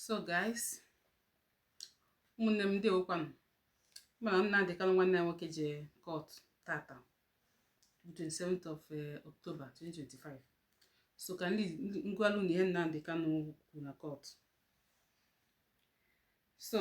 so guys ụmụnne m ndewokwanụ mana Nnamdi Kanu nwanne anyị nwoke je court tata 27th of eh, October 2025 so ka m gwalụ unu ihe Nnamdi Kanu kwuru na court so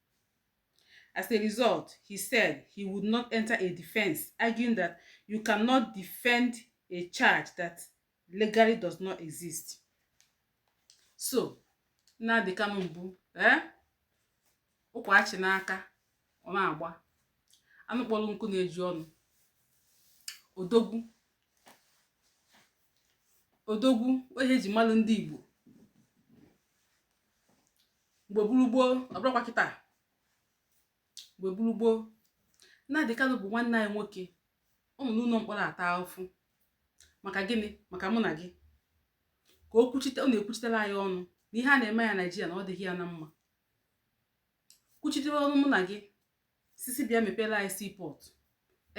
As a result, he said he would not enter a defense, arguing that you cannot defend a charge that legally does not exist. So, Nnamdi Kanu bụ ee eh? ụkwa achị n'aka ọ na-agba anụ kpọrọ nkụ na-eju ọnụ odogwu odogwu onye e ji malụ ndị Igbo mgbe bụrụ gboo ọ bụrụkwa kịta mgbe bụrụ gboo Nnamdi Kanu bụ nwanne anyị nwoke ọ nọ n'ụlọ mkpọrọ ata ahụfụ maka gịnị maka mụ na gị ka o kwuchite ọ na-ekwuchitere anyị ọnụ na ihe a na-eme anyị na Naijiria na ọ dịghị ya na mma kwuchitere ọnụ mụ na gị sị sị bịa mepere anyị seaport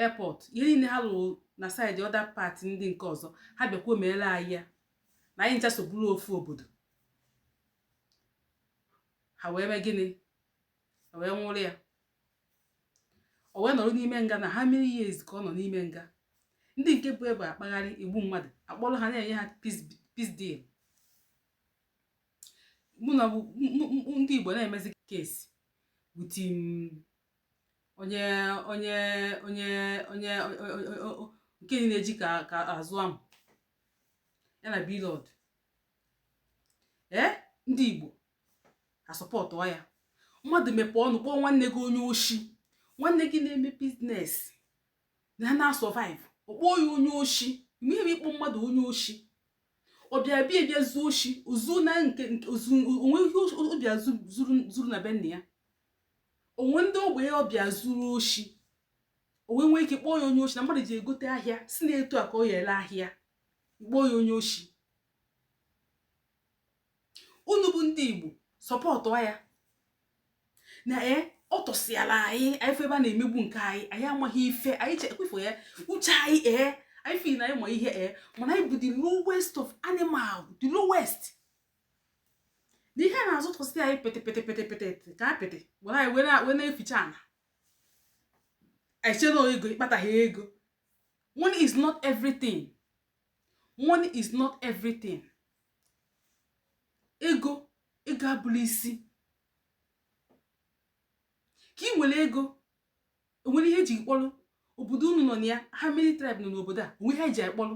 airport ihe niile ha lụrụ na side other part ndị nke ọzọ ha bịakwuo meere anyị ya na anyị ncha so bụrụ ofu obodo ha wee mee gịnị e wee nwụrụ ya o wee nọrọ n'ime nga na how many years ka ọ nọ n'ime nga ndị nke bu egbe akpagharị egbu mmadụ a kpọrọ ha na-enye ha peace deal mana ndị Igbo na-emezi case with onye onye onye onye nke na-eji ka azụ ahụ ya na Blord ee ndị igbo a-support ya mmadụ mepee ọnụ kpọọ nwanne gị onye oshi nwanne gị na-eme business na na-asurvive ọ kpọọ ya onye oshi nwee ike ịkpọ mmadụ onye oshi ọ bịa bịa bịa zuo oshi o zu na nke o nwe ihe ọ bịa zuru na be nna ya o nwe ndị ogbenye ọ bịa zuru oshi o wee nwee ike kpọọ ya onye oshi na mmadụ je gote ahịa sị na etu a ka ọ ya-ele ahịa kpọọ ya onye oshi unu bụ ndị igbo support ya na e ọ tọsịala anyị anyị fụ ebe a na-emegbu nke anyị anyị amaghị ife anyị chekwefụ ya uche anyị ee anyị sị na anyị ma ihe ee mana anyị bụ the lowest of animal the lowest na ihe a na-azọtọsị anyị pete pete pete pete ka apịtị were anyị wee na-eficha ana anyị chee na ego ịkpataghị ego money is not everything money is not everything ego ego abụrọ isi ka ị nwere ego onwere ihe eji kpọrọ obodo unu nọ na ya how many tribe nọ n'obodo a onwe ha eji akpọrọ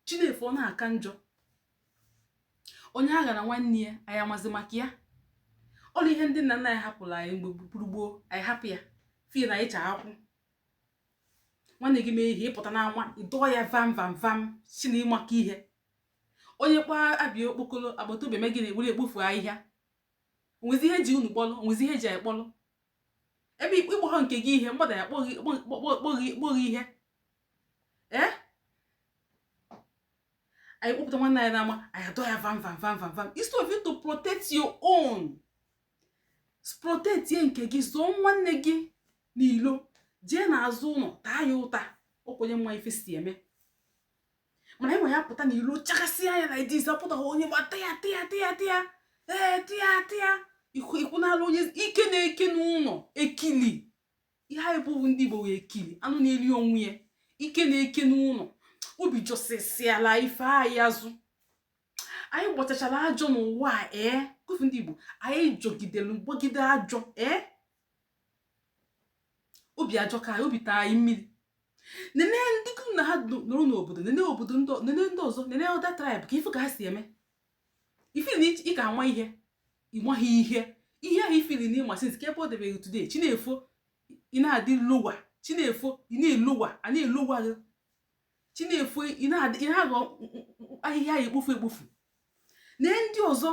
chi na-efo ọ na-aka njọ onye aghana nwanne ya anyị amazi maka ya all ihe ndị nna nna anyị hapụrụ anyị mgbe gburu gboo anyị hapụ ya fie na anyị cha akwụ nwanne gị mee ihe ịpụta n'ama ịdọọ ya vam vam vam sị na ịmaka ihe onye kpọọ ọba ya okpokolo agbata obi eme gị na-eburu ekpofu ahịhịa onwezi ihe eji unu kpọlụ onwezi ihe eji anyị kpọlụ ebe ịkpọghọ nke gị ihe mmadụ ya akpọ gị ihe ee anyị kpọpụta nwanne anyị n'ama anyị adọ ya vam vam vam vam vam instead of you to protect your own protectie nke gị zọọ nwanne gị n'ilo jee n'azụ ụnọ taa ya ụta ọ ka onye ma ife si eme mana ịnwa ya apụta n'ilo chakasịa anya na idis apụtaghị onye gba tịa tịa tịa tịa ee tịa tịa ikwu n'ala onye ike na-eke n'ụnọ ekili ihe anyị bụ ndị igbo wee ekili anụ na-eri onwe ya ike na-eke n'ụnọ obi jọsịsịala ife anyị azụ anyị gbachachala ajọ n'ụwa a ee eh? kụfu ndị igbo anyị jọgidere gbagide ajọ ee eh? obi ajọ ka anyị obi taa anyị mmiri nene ndị unu na ha nọrọ n'obodo nene obodo nene ndị ọzọ nene other tribe ka ịfụ ka ha si eme ị feel na ị ka ama ihe ịmaghị ihe ihe ahụ ị feel na ị ma since kee ebe o debe gị today chi na-efo ị na-adị lower chi na-efo ị na-elower a na-elower gị chi na-efo ị na-aghọ ahịhịa a ya ekpofu ekpofu na ndị ọzọ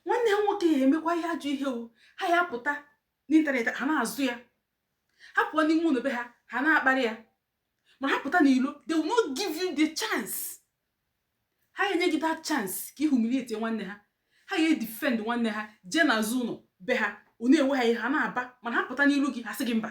nwanne ha nwoke ya emekwa ihe ajọ ihe o ha ya apụta n'internet ha na-azọ ya ha pụọ n'ime ụnọ be ha ha na-akparị ya ma ha pụta n'ilo they will not give you the chance ha enye gị that chance ka ị humiliate nwanne ha ha ya edefend nwanne ha jee n'azụ ụnọ be ha ọ na-ewe ha iwe ha na-aba mana ha pụta n'ilo gị ha sị gị mba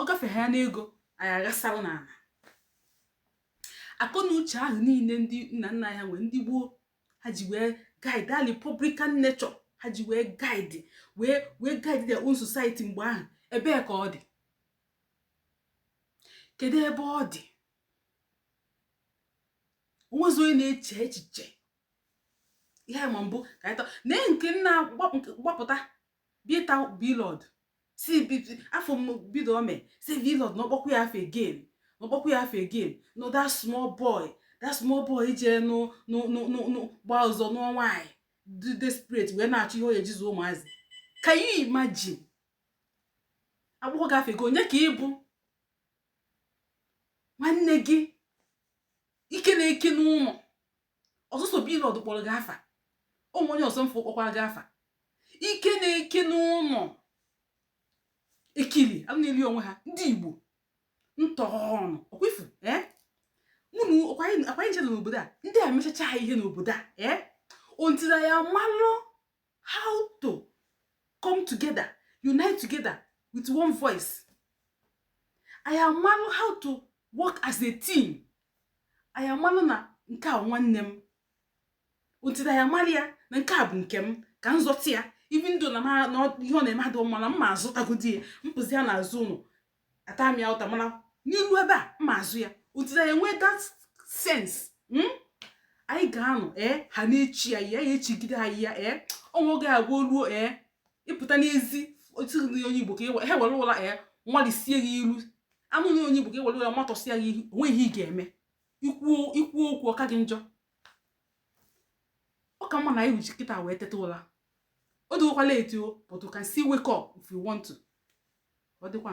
ọ gafee ha n'ego anyị aghasara n'ana akọ na uche ahụ niile ndị nna nna anyị nwee ndị gboo ha ji wee guide our republican nature ha ji wee guide wee wee guide their own society mgbe ahụ ebee ka ọ dị kedu ebe ọ dị onwezi onye na-eche echiche ihe a ma bụ ka anyị tọ na nke nna gbapụta bita Blord si afọ m bido ome si Blord na ọ kpọkwa ya afa again na ọ kpọkwa ya afa again no that small boy that small boy jee gbaa ọsọ nụọ nwaanyị dị desperate wee na-achọ ihe ọ ya-eji zụ ụmụazị can you imagine a kpọkwa gị afa gị onye ka ị bụ nwanne gị ike na-eke n'ụlọ ọ sọsọ Blord kpọrọ gị afa o nwe onye ọzọ mfụ kpọkwara gị afa ike na-eke n'ụlọ ekili anụ na-eli onwe ha ndị igbo ntọọnụ ọkwa ị fụ ee mụnụ akwanye nche n'obodo a ndị a mechacha ha ihe n'obodo a ee until anyị amalụ how to come together unite together with one voice anyị amalụ how to work as a team anyị amalụ na nke a nwanne m until anyị amara ya na nke a bụ nke m ka m zọta ya even though na ihe ọ na-eme adịghị mma na m ma azọtagodi ya m pụzia n'azụ ụlọ ata m ya ụta mana n'iru ebe a ma azọ ya until anyị enwee that sense hmm? anyị ga-anọ ee ha na-achị ya ya achịgide anyị ya ee o nwe oge ọ ga-eluo ee ị pụta n'ezi otu onye igbo ka ha were ụla ee nwalisie gị ilu a nụ na onye igbo ka e were ụla matọsịa gị ihu o nwe ihe ị ga-eme i kwuo okwu ọ ka gị njọ ọ ka mma na anyị ji kịta wee teta ụla ọ dịgokwa late o but you can still wake up if you want to ọ dịkwa